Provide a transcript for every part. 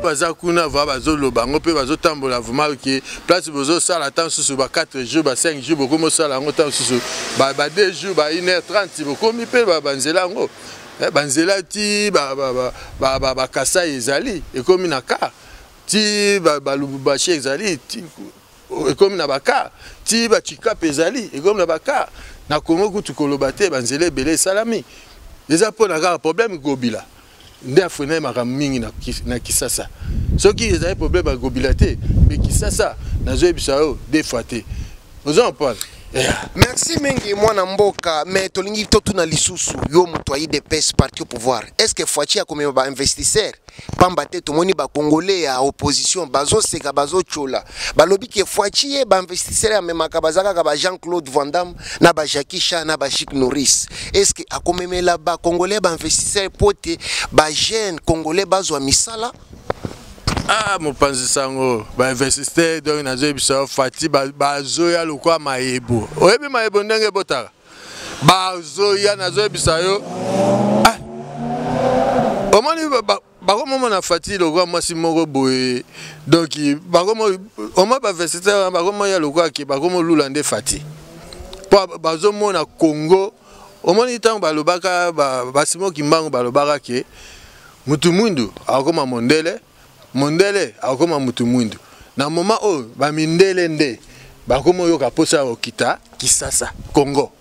baza kuna va bazoloba yango mpe bazotambola vraimen ke place bozosala ntan mosusu ba 4 jours ba 5 jours bokomi osala yango ntan mosusu ba 2 jours ba 1 heure 30 bokomi mpe banzela yango eh, banzela ti bakasai ezali ekomi na kar ti balubumbashi ezali ekomi na baka ti bacikape ezali ekomi na baka na kongo kutu koloba te banzela ebele esalami eza mpo na kaka problème gobila nde afrena ye makambo mingi na kisasa soki ezali problème ya gobila te me kisasa nazoyebisa yo defa te oza na pale merci mingi mwana mboka me tolingi totuna lisusu yo moto ya idps parti au pouvoir est ce que foici akomema bainvestisseur pamba te tomoni bacongolais ya opposition bazoseka bazotyola balobi ke foici ye bainvestisseur amemaka baza kaka ba jean claude vandam na ba jacki cha na ba jik norris est ce que akomemela bacongolais bainvestisseur mpo te bajeune congolais bazwa misala ah mopanzi sango bainvestiste donc nazoyebisa yo fati bazoya lokola mayebo oyebi mayebo ndenge ebotaka bazoya nazoyebisa yo ah, omoni bakomomona fati lokola mwasi moko boye donc omoi bainvestite wana bakomoya lokola ke bakomolula nde fati mpo bazomona congo omoni ntango balobaka basimo ba kimbangu balobaka ke mutu mwindu akokoma mondele mondele akokoma mutu mwindu na moma oyo bamindele nde bakomi oyoka mposa ya kokita kisasa congo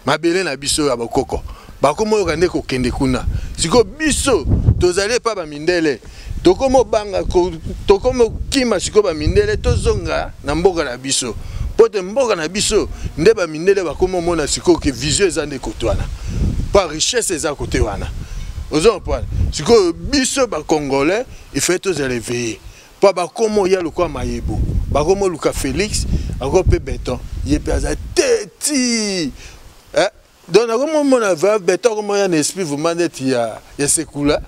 mabele na biso ya bakoko bakomi oyoka nde kokende kuna sikoyo biso tozali epa bamindele tokomi obanga tokomi okima sikoyo bamindele tozonga na mboka na biso mpo te mboka na biso nde bamindele bakomi omona sikoyo ke vision eza nde kote wana mpo richesse eza kote wana ozo comprendre sikoyo biso bacongolais ifai tozala eveille mpo bakomi oya lokola mayebo bakomi oluka félix ako mpe beton ye mpe aza te ti eh? donc nakomomona va beton akomoya na esprit vraiment neti ya, ya sekula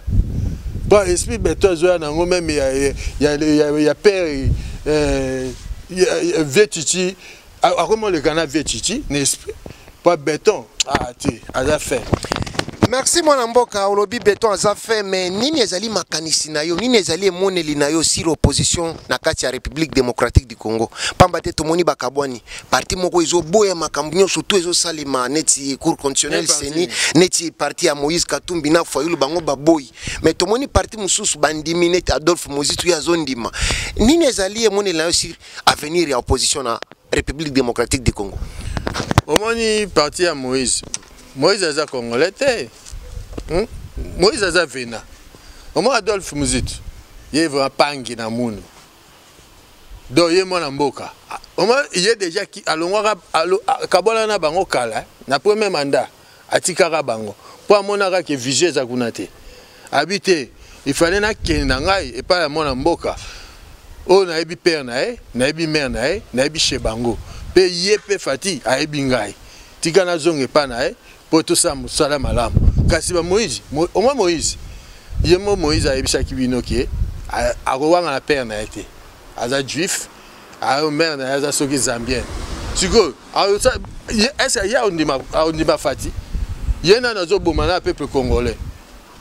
po esprit beton ezoya na yango meme ya, ya, ya, ya, ya pere eh, vie chichi akomoleka na vie chichi na esprit po beton ah, te aza fin merci mwana mboka olobi beton aza fin mais nini ezali makanisi na yo nini ezali emoneli na yo sur opposition na kati ya république démocratique du congo mpamba te tomoni bakabwani parti moko ezoboya makambo nyonso to ezosalema neti cour constitutionnel seni neti parti ya moïse katumbi na fayulu bango baboyi mais tomoni parti mosusu bandimi neti adolphe mozitu ye azondima nini ezali emonela yo sur avenir ya opposition na république démocratique du congo omoni parti ya moïse moïse aza congolais te hmm? moïse aza vena omoni adolphe mozitu ye vraimen pangi na munu donc ye mwana mboka ye déjà alongwaka akabwana na bango kala na premier mandat atikaka bango mpo amonaka ke vision eza kuna te abi te il fallait nakende na ngai epai ya mwana mboka oyo nayebi père na ye nayebi mare na ye nayebi chez bango mpe ye mpe fati ayebi ngai tika nazonga epai na ye mpo tosala mosala malamu kasi bamoïse omwa moïse ye mo moïse ayebisaki bino ke akowanga na père na ye te aza juif ayo mare na ye aza soki zambien sikoyo ese ye aondima fati ye nani azoboma na peuple congolais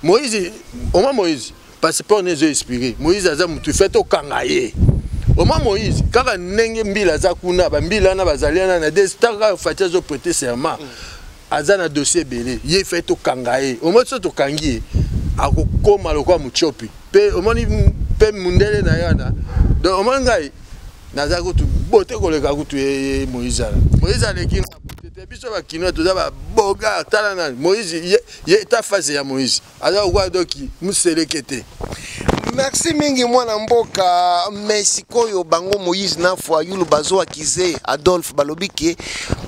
Moïse, oma Moïse, passeport nezo expiré. Moïse aza mutu fait au kangaye. Oma Moïse, kaka nenge mbila aza kuna, ba mbila na bazaliana na des tanga fati azo prêter serment. Aza na dossier belé, ye fait au kangaye. Oma so to kangiye, akokoma lokwa muchopi. Pe omoni pe mundele na yana. Donc omoni ngai naza kutu bote koleka kutu ye Moïse. Moïse aleki na biso bakinois toza babogar tala nani moïse ye ta phase ya moïse aza kokoa doki moseleke te merci mingi mwana mboka me sikoyo bango moïse na foyulu bazowa kize adolphe balobi ke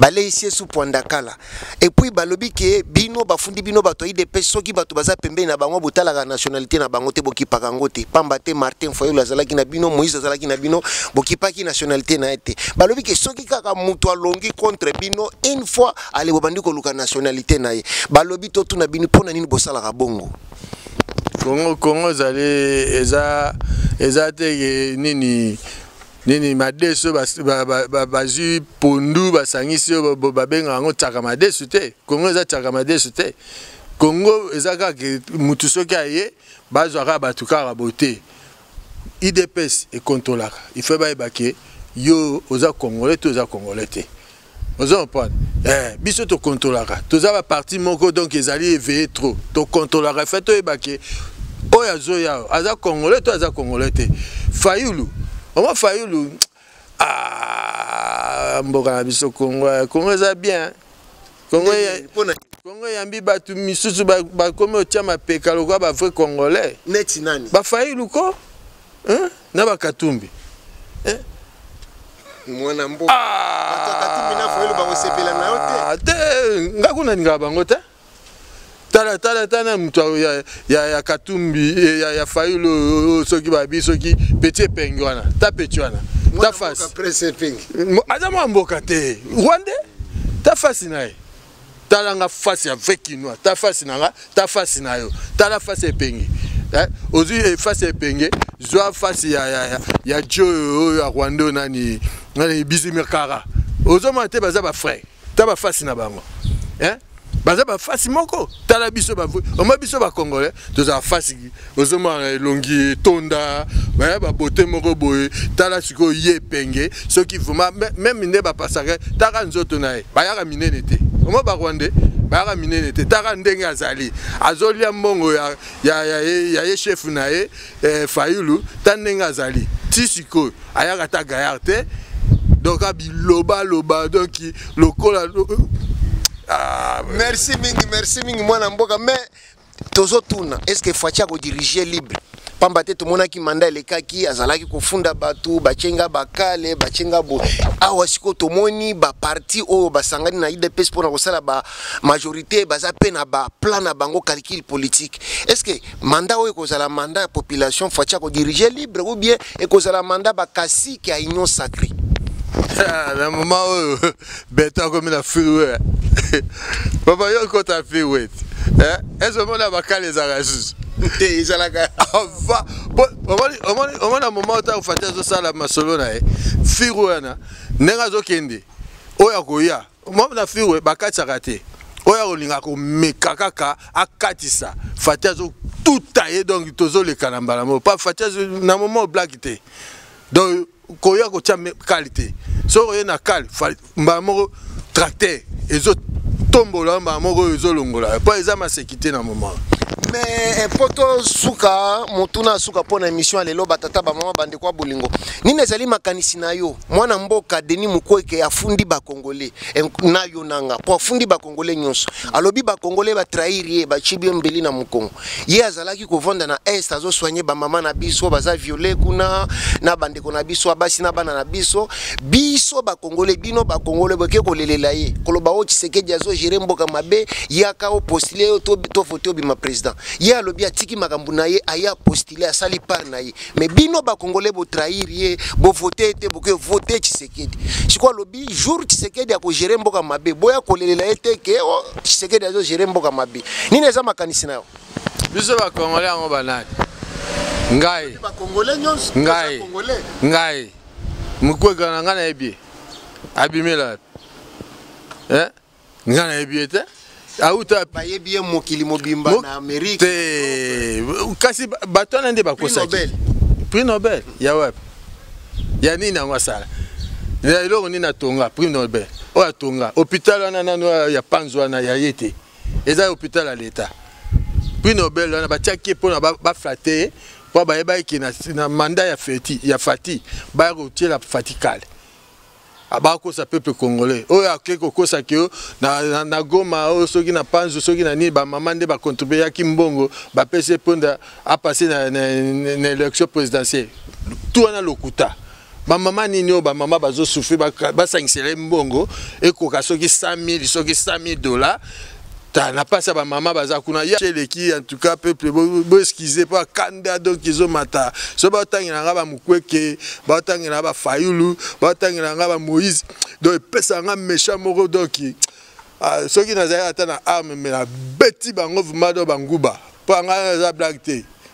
baleisi esu pwandakala epuis balobi ke bino bafundi bino bato ya idps soki bato baza pembeni na bango botalaka nationalité na bango te bokipaka yango te pamba te martin foyulu azalaki na bino moïse azalaki na bino bokipaki nationalité na ye te balobi ke soki kaka moto alongi contre bino une fois ale bobandi koluka nationalité na ye balobi totuna bino mpo na nini bosalaka bongo kongo kongo ezali eza eza te nini nini madesu bazwi pondu basangisi oyo babenga yango tsaka madesu te kongo eza tsaka madesu te kongo eza kaka motu soki aye bazwa kaka bato kaka bote idps ekontolaka ife bayebake yo oza congolais to oza congolais te ozo comprendre eh, biso tokontrolaka toza baparti moko donc ezali éveillé trop tokontrolaka fe toyeba ke oyo azoya aza congolais to aza congolais te fayulu oma fayulu ah, mboka na biso congo eh, congo eza bien congo kongo eyambi bato misusu bakomi otya mapeka lokola bavrai congolais neti nani bafailu ko hein? na ba katumbi hein? mwana mboka ah! bato ya katumbi na foyelo bakosepela na yo te ah, te nga kuna nalingaka bango te tala tala tala moto ya, ya, ya katumbi eh, ya, ya fayulu oh, oh, soki babi soki peti epengi wana ta peti wana ta fasi aza mwa mboka te rwande ta fasi na ye tala nga face ya vrai kinois ta face na nga ta face na yo tala face epenge eh? ozwi eh, face epenge zwa face ya, ya, ya, ya jo oyo ya rwanda oyo nani, nani bizimirkara ozomona te baza bafrai ta bafasi na bango eh? baza bafasi moko tala biso omoi biso bacongolais tozala fasi ozomona na elongi etonda baya babote moko boye tala sikoyo ye epenge soki vrema meme nde bapasaka taka nzoto na ye bayaka minene te omo barwande bayaka minene te taka ndenge azali azolia mbongo ya, ya, ya, ya ye shefu na ye eh, fayulu ta ndenge azali ti sikoyo ayaka ta gayar te donc abilobaloba donc lokola ah, merci mingi merci mingi mwana mboka mais tozo tuna est ce que Fatshi ako diriger libre pamba te tomonaki manda elekaki azalaki kofunda bato batye nga bakale batye nga bo awa sikoyo tomoni baparti oyo basangani na idps mpo na kosala bamajorité baza mpe na baplan na bango calcul politique est ce que manda oyo ekozala manda ya population faci akodirige libre ou bien ekozala manda bakasiki ya union sacré ah, na moma oyo beton akomi na freeway papa yo okota freeway eh? ezomona bakala ezalaka lisusu te ezalaka ava omona moma otango fati azosala masolo na ye firo wana ndenge azokende oyo akoya mome na firo bakatisaka te oyo akolinga komeka kaka akatisa fati azotuta ye donc tozoleka na mbala moko pa fati na moma oblaki te donc koya kotia kale te soki oye na kale mbala moko tracteur ezotombola mbala moko oyo ezolongola mpo eza masekite na moment mais eh, mpo tosuka motuna asuka mpo na émission ya lelo batata bamama bandeko ya bolingo nini ezali makanisi na yo mwana mboka denis mukweke afundi bakongole eh, na yo nanga mpo afundi congolais nyonso alobi bacongolais batrahir ye bacibi ye mbeli na mokongo ye azalaki kovanda na est azosoigne bamama na biso baza viole kuna na bandeko na biso abasi na bana na biso biso bacongolais bino bacongolais boke kolelela ye koloba o oh, tshisekedi azogere mboka mabe yaka opostile yo tovote obima président ye alobi atiki makambo na ye aye apostile asali part na ye mais bino bacongolais botrahir ye bovote ye te boke vote tshisekedi Tshisekedi. Sikoyo alobi jour Tshisekedi akogere mboka mabe, boya kolelela ye te ke oh, Tshisekedi azogere mboka mabe. Nini eza makanisi na yo? Biso bakongole yango banani? Ngai ngai ngai mokweka na ngai nayebi abimela eh? nga nayebi ye te auta bayebi ye mokili mobimba na amerike te kasi bato wana nde bakosaki prix nobel ya wapi ya nini yango asala ya eloko nini atonga prix nobel oyo atonga hôpital wana nano ya panzo wana ya ye te eza hôpital ya leta prix nobel wana batiaki ye mpona baflate ye mpo bayebaki na manda ya fati baya kotiela fatikale aba kosa peuple congolais oyo ake kokosa ke na, na, na goma oyo soki na panzu soki na nini bamama nde bacontribue yaki mbongo bapesi eponda apasse na, na, na, na élection présidentielle tu wana lokuta bamama nini oyo bamama bazosufri basangisela ye mbongo ekoka soki 100 000 soki 100 000 dollars ta na pasi ya bamama baza kuna ya eleki en tout cas peuple boeskize mpo akanda donc ezomata so baotangela nga bamokweke baotangela bafayulu baotangela nga bamoïse donc epesaka nga méchant moko donc ah, soki nazali ata na arme me nabeti bango vraimen do banguba mpo anga eza blague te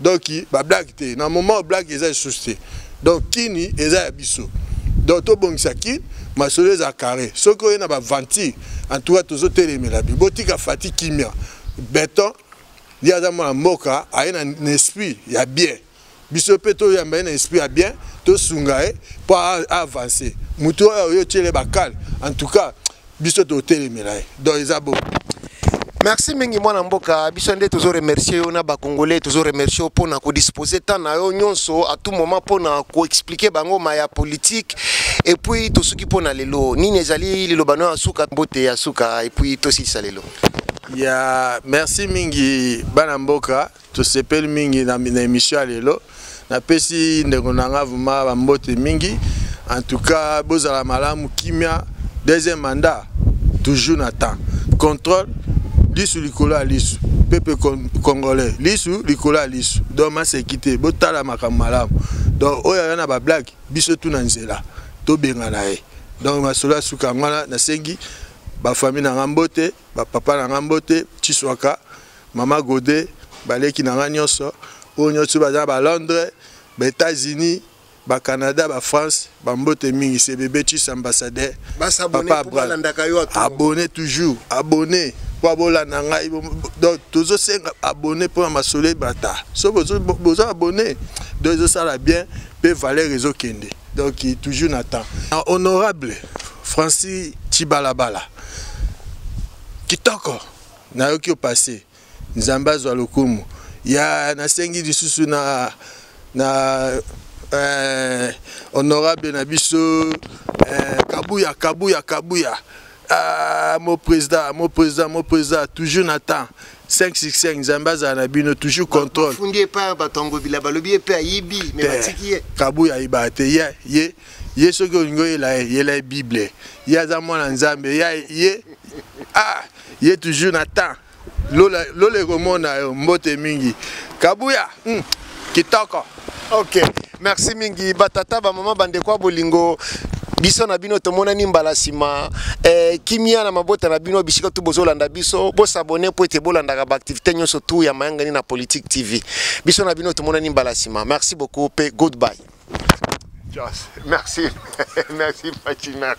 donc ba blague te na moment blague eza lisusu te donc kini eza ya biso donc tobongisa kini masolo eza carré soki oye na baventure en tout cas tozotelemela bi botika fati kimia beton ye aza mwana mboka aye na esprit ya bien biso mpe toyamba ye na esprit ya bien tosunga ye mpo avance motu oyo oyo otyele bakale en tout cas biso totelemela ye donc eza bo merci mingi mwana mboka biso nde tozo remercier yo na bacongolais tozo remercier yo mpona kodispose temps na yo nyonso à tout moment mpona koexplike bango ma ya politike epuis tosuki mpona lelo nini ezali liloba no ya suka mbote ya suka epuis tosilisa lelo ya merci mingi bana mboka tosepeli mingi na, na emission ya lelo napesi ndeko na nga vraimen bambote mingi en tout cas bozala malamu kimia deuxième mandat toujours na temps contrôle lisu likolo ya lisu pepe congolais lisu likolo ya lisu donc maseki te botala makambo malamu donc oyo aya na bablage biso tu na nzela tobengana ye donc masolo ya suka yango wana nasengi bafamille na nga mbote bapapa na nga mbote chiswaka Mama Gode, baleki na nga nyonso, oyo nyonso baza ba Londres, ba Etats-Unis, ba Canada, ba France, ba mbote mingi, c'est bébé Chis ambassadeur. Papa Abraham, abonné toujours, abonné. mpo abolanda ngai donc tozosenga abonné mpo na masolo ebata so bozo abonné donc ezosala bien mpe valeur ezokende donc toujours na temps na honorable francis cibalabala kitoko Nayoki yo passe. Nzambe azwa lokumu. Ya nasengi lisusu na na eh, honorable na biso eh, Kabuya Kabuya Kabuya ah, mon président mon président mon président toujours na temps 565 nzambe azala na bino toujours contrôle fundi epai bato yango bila balobi ye mpe ayibi me batiki ye kabuya ayibaka te ye ye ye soki olingi oyela ye yela ye bible ye aza mwana nzambe ye ye ah ye toujours na temps lola lola ekomona yo mbote mingi kabuya mm, kitoko ok merci mingi batata bamama bandeko ya bolingo biso na bino tomonani mbala nsima eh, kimia na mabota na bino bisika tu bozolanda biso bosabone mpo ete bolandaka baaktivité nyonso tu ya mayangani na politique tv biso na bino tomonani mbala nsima merci beaucoup mpe goodbye Just, merci merci merci merci